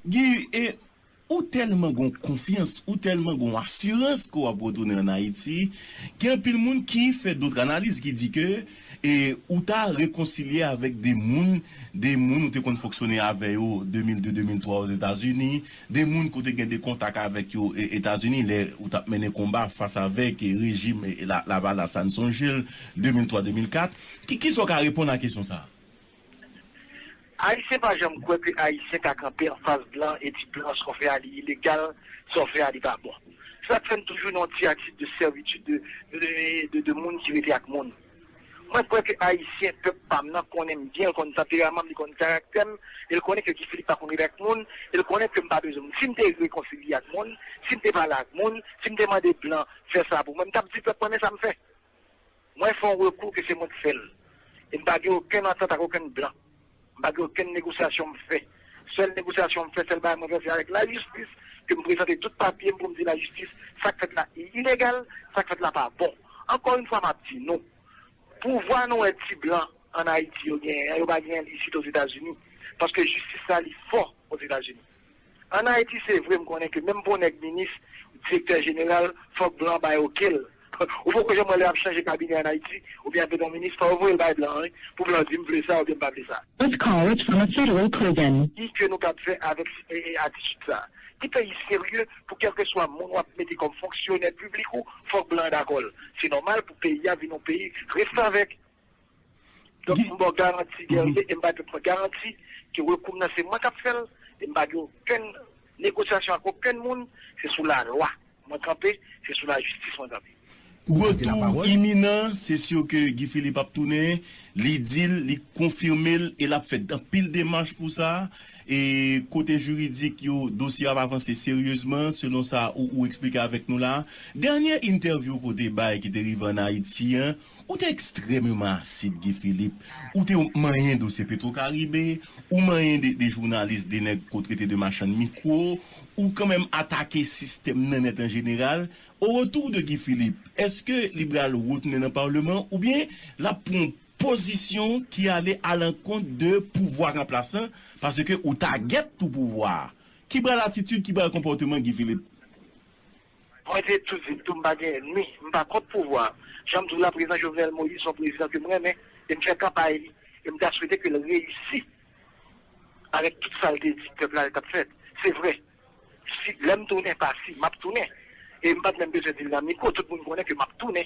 Guy, e, ou tèlman gen yon konfyans, ou tèlman gen yon asirans ke w ap retounen ann Ayiti, gen anpil moun ki fè dot analiz ki di ke, e, ou ta rekonsilye avèk de moun, de moun ou te konn fonksyone avè yo 2002, 2003 Ozetazini, 2 moun ke w te gen 2 kontak avèk yo Etazini lè ou t ap mennen konba fas avèk rejim Lavalas la, n sonje l 2003-2004. Ki kisa w ka reponn a kesyon sa a? Ayisyen pa janm kwè ke Ayisyen ka kanpe anfas blan e di blan sa w fè a li ilegal, sa w fè a li pa bon. Se sa k fè n toujou nan yon ti atitid de servitude de moun ki rete ak moun. Mwen kwè ke Ayisyen, pèp pa m nan, konnen m byen, l konn tanperaman m, li konn karaktè m, e l konnen ke Guy Philippe pa konn rele ak moun, e l konnen ke m pa bezwen moun. Si m te rekonsilye ak moun, si m te pale ak moun, si m te mande blan fè sa pou mwen, m t ap di pèp mwen men sa m fè. Mwen fè yon rekou ke se mwen k fè l, e m pa gen okenn antant ak okenn blan. M pa gen okenn negosyasyon m fè. Sèl negosyasyon m fè, sèl bagay mwen fè se avèk lajistis ke m prezante tout papye m pou m di lajistis sa k fèt la ilegal, sa k fèt la pa bon. Ankò yon fwa m ap di nou, pouvwa nou wè ti blan ann Ayiti yo genyen an, yo pa genyen l isit Ozetazini paske jistis la li fò Ozetazini. An Ayiti se vre m konnen ke menm pou w nèg minis, direktè jeneral, fòk blan bay oke l. Ou poko janm wè lè y ap chanje kabinè an Ayiti oubyen y ap mete yon minis fò yo voye l bay blan an wi pou blan di m vle sa oubyen m pa vle sa. This call is from a federal prison. Ki ke nou kab fè avèk atitid sa? Ki peyi serye pou kèlkeswa moun w ap mete kòm fonksyonè piblik ou fòk blan an dakò l? Se nòmal pou peyi a vin yon peyi restavèk. Donk m ba w garanti Guerrier e m ba pèp mwen garanti ke rekou m nan se mwen k ap fè l e m pa gen okenn negosyasyon ak okenn moun, se sou lalwa mwen kanpe, se sou lajistis mwen kanpe. Retou iminan, se sur ke Guy Philippe ap tounen, li di l, li konfime l e l ap fè anpil demach pou sa e kote jiridik yo dosye a ap avanse seryezman selon sa ou eksplike avèk nou la a. Dènye entèvyou ke w te bay ki te rive an Ayiti an, Ou te ekstrèmeman asid Guy Philippe, ou te manyen dosye Petro Caribe, ou manyen de jounalis, de nèg ke w trete de machann mikwo, ou kanmenm atake sistèm nan nèt an jeneral. Au retour de Guy Philippe, eske li pral retounen nan parleman oubyen l ap pran yon pozisyon ki ale alankont de pouvwa ranplasan paske ou tagèt tou pouvwa a? Ki pral atitid, ki pral konpòteman Guy Philippe? Mwen te tou di l tou m pa gen ènmi, m pa kont pouvwa a. Jan m di w la, Prezidan Jovenel Moïse son prezidan ke m renmen e m fè kanpay li e m ta swete ke l reyisi avèk tout sa l te di pèp la li t ap fèt. Se vre, si lè m tounen, pa si, m ap tounen e m pa t menm bezwen di l nan mikwo, tout moun konnen ke m ap tounen.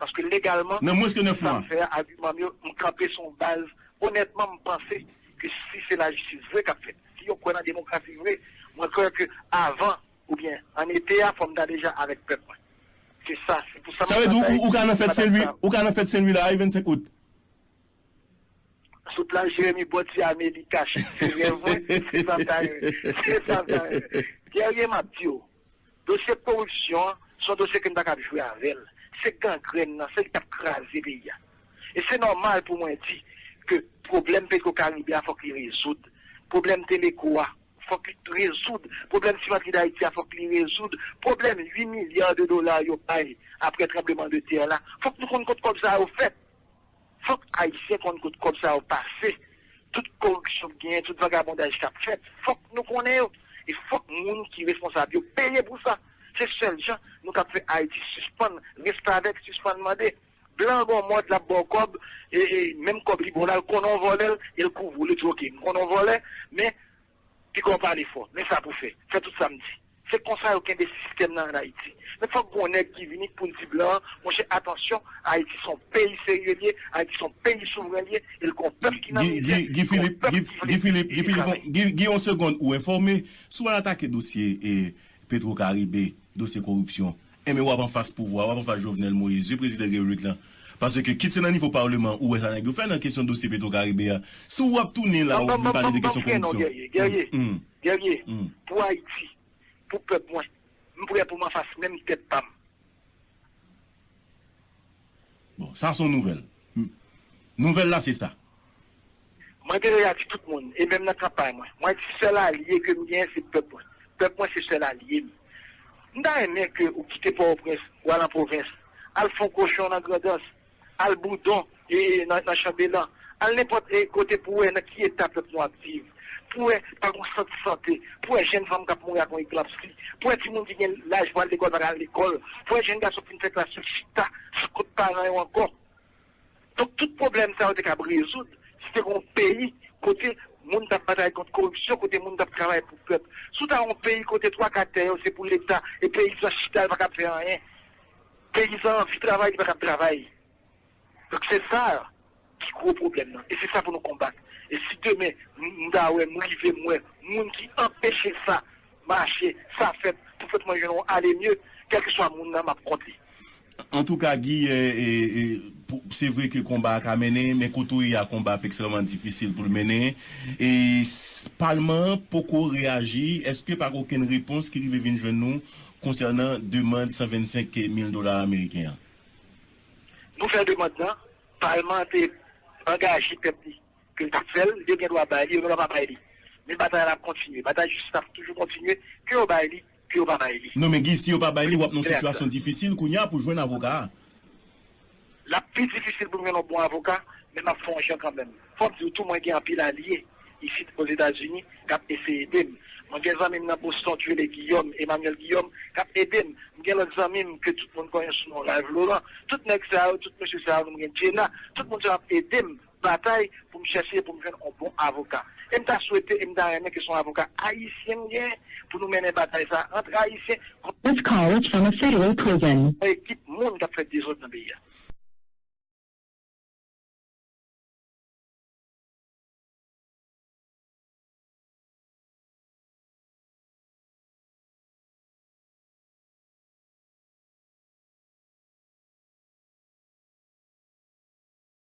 Paske legalman, Nan mwens ke 9 sa mwa. m fè a, agiman m yo, m kanpe sou yon baz, onètman m panse ke si se lajistis vre k ap fèt, si yo kwè nan demokrasi vre, mwen kwè ke avan oubyen an ete a fò m ta deja avèk pèp mwen. Se sa, se pou sa m ap Sa vle di batay, ou ka nan m fèt ap Sen Lwi, batay. ou ka nan fèt Sen Lwi la a wi 25 out. Sot la Jeremi bò ti ame li kache se rèv mwen se santan ye se santan ye Guerrier map diw dosye koripsyon an son dosye ke n pakab jwe avèl se gangrenn nan se li kap kraze peyi a e se nòmal pou mwen di ke pwoblèm petro karibe a fòk li rezoud pwoblèm teleko a fòk li rezoud pwoblèm simantri dayiti a fòk li rezoud pwoblèm 8 milya de dola yo bay aprè tranbleman de tè la fòk nou konn kot kòb sa yo fèt Fòk ayisyen konn kot kòb sa yo pase, tout koripsyon k genyen, tout vagabondaj kap fèt, fòk nou konnen yo e fòk moun ki responsab yo peye pou sa. Se sèl jan nou kap fè Ayiti sispann restavèk, sispann mande. Blan an baw mòd lap baw kòb e menm kòb li baw la l konnen w vòlè l e l kouvri w li di ok m konnen w vòlè men Piga w pale fò, men sa pou fè. Fè tout sa m di. Se konsa yo kenbe sistèm lan an Ayiti. Men fòk gon nèg ki vini k pou l di blan an, monchè atansyon, Ayiti s on peyi serye l ye, Ayiti s on peyi souvren l ye, e l gon pèp ki nan mizè, e gon pèp ki vle travay. Gi yon segond ou enfòme, sou al atake dosye petro karibe, dosye koripsyon. Enben wap anfas pouvwa, wap anfas Jovenel Moïse wi prezidan repiblik lan. Paske kit se nan nivo parleman ou wè sa nèg yo fè nan kesyon dosye petro karibe a, si wap tounen la ou vin pale de kesyon koripsyon. Guerrier pou Haiti pou pèp mwen m prè pou m anfas menm tèt pam. Bon sa son nouvèl. Nouvèl la se sa. Mwen te deja di tout moun, e menm nan kanpay mwen, mwen di sèl alye ke m genyen se pèp mwen. Pèp mwen se sèl alye m. M ta renmen ke ou kite Pòtoprens, ou al an pwovens, al fon kochon nan Grandans, al Boudon, nan Chanbelan, al nenpòt kote pou wè nan ki eta pèp nou ap viv, pou wè pa gon sant sante, pou wè jenn fanm k ap mouri ak yon eklanpsi, pou wè timoun ki gen laj pou al lekòl pa ka al lekòl, pou wè jenn gason k fin fè klas yo chita sou kont paran yo ankò. Donk tout pwoblèm sa yo te kab rezoud si te gen yon peyi kote moun t ap batay kont koripsyon, kote moun t ap travay pou pèp. Si w ta yon peyi kote twaka tè yo se pou leta e peyizan chita l pa kab fè anyen, peyizan anvi travay li pa kab travay. Donk se sa ki gwo pwoblèm nan e se sa pou nou konbat. E si demen m ta wè, m rive m wè moun ki anpeche sa Mache, sa fèt pou fèt mwen jwenn yon ale mye, kèlkeswa moun nan m ap kont li. Antouka Guy, se vre ke konba a ka mennen, men kote w ye a konba ap ekstrèman difisil pou l mennen. Palman an poko reyaji, èske pa gen okenn repons ki rive vin jwenn nou konsènan demand 125 mil dola ameriken an? Nou fè demand nan, palman an te angaje tèt li ke l t ap fè l, yo gen dwa bay li, yo gen dwa pa bay li, men batay la ap kontinye, batay jistis la ap toujou kontinye, ke yo bay li, ke yo pa bay li. Non men Guy, si yo pa bay li, w ap nan yon sitiyasyon difisil kounye a pou w jwenn avoka a. L ap pi difisil pou m jwenn yon bon avoka, men m ap fè yon jan kanmenm. Fò m di w tou, mwen gen anpil alye isit Ozetazini k ap eseye ede m. Mwen gen zanmi m nan Boston ki rele Guillaume, Emmanuel Guillaume, k ap ede m. M gen lòt zanmi m ke tout moun konnen sou non Ralph Laurent. Tout nèg sa yo, tout mesye sa yo, nou m gen Djena, tout moun sa yo ap ede m batay pou m chèche pou m jwenn on bon avoka e m ta swete e m ta renmen ke se on avoka ayisyen m genyen pou nou mennen batay sa a antre ayisyen kont This call is from a federal prison. on ekip moun k ap fè dezòd nan peyi a.